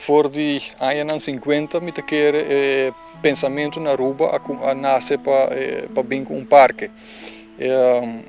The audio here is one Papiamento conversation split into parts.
For di añanan sinkuenta mi ta kere e pensamentu na Aruba a nase pa bin ku un parke.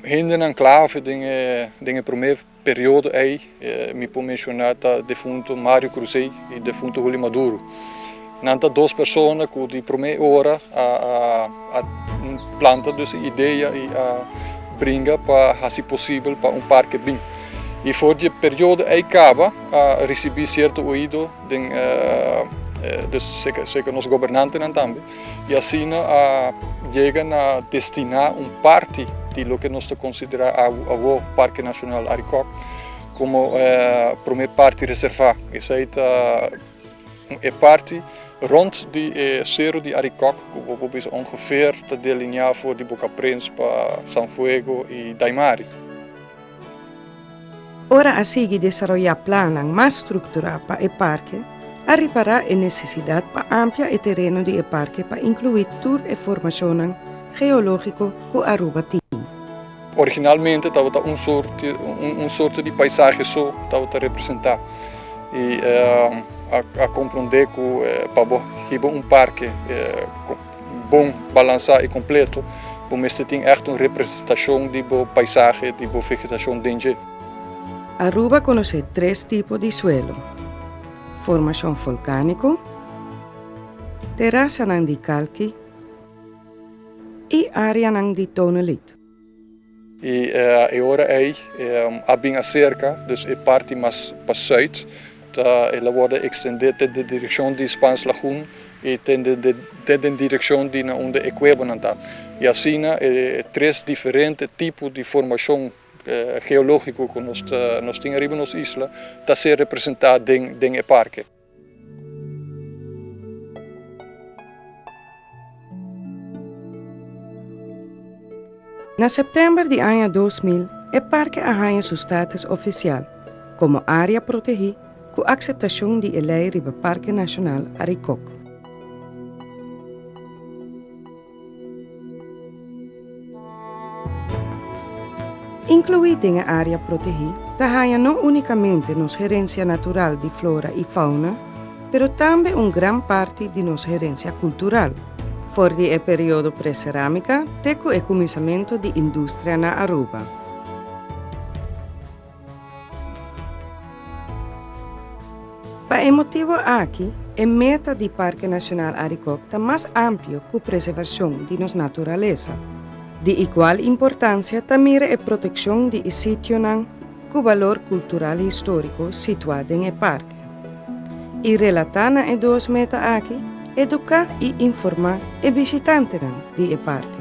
Hendenan klave den e promé periodo ei. Mi por menshoná ta defuntu Mario Cruzey i defuntu Julio Maduro. Nan ta dos persona ku di promé ora a planta dus e idea i a bringa pa hasi posibel pa un parke bin. I for di e periodo ei kaba a risibí sierto oido den seka nos gobernantenan tambe. I asina a yega na destiná un parti di loke nos ta konsiderá awor Parke Nashonal Arikòk komo promé parti reservá. Esei ta e parti rònt di e Seru di Arikòk ku bo por bisa ongefeer ta delineá for di Bokaprins pa San Fuego i Daimari. Ora a sigui desaroyá plannan mas strukturá pa e parke, a repará e nesesidat pa amplia e tereno di e parke pa inkluí tur e formashonnan geológiko ku Aruba tin. Originalmente tabata un sorte un sorte di paisahe so tabata representá i a a komprondé ku pa bo hiba un parke. Bon balansá i kompleto, bo mester tin ègt un representashon di bo paisahe, di bo vegetashon den dje. Aruba konosé tres tipo di suelo, formashon volkániko, terasanan di kalki i áreanan di tonelit. I e ora ei a bin aserka, dus e parti mas pa sùit ta el a wòrdu ekstendé te den direkshon di Spans Lagoen i te den direkshon di na unda e kuebonan ta, i asina e tres diferente tipo di formashon geológiko ku nos tin ariba nos isla ta ser representá den e parke. Na september di aña dos mil e parke a haña su status ofisial komo área protegí ku akseptashon di e lei riba Parke Nashonal Arikok. Inkluí den e área protegí ta haña no únikamente nos herensia natural di flora i fauna, pero tambe un gran parti di nos herensia kultural. For di e periodo preserámika te ku e kuminsamentu di industrianan Aruba. Pa e motibu aki, e meta di Parke Nashonal Arikok ta mas amplio ku preservashon di nos naturalesa. Di igual importansia ta mira e protekshon di e sitionan ku balor kultural i históriko situá den e parke. I relatá na e dos meta aki, eduká i informá e bishitantenan di e parke.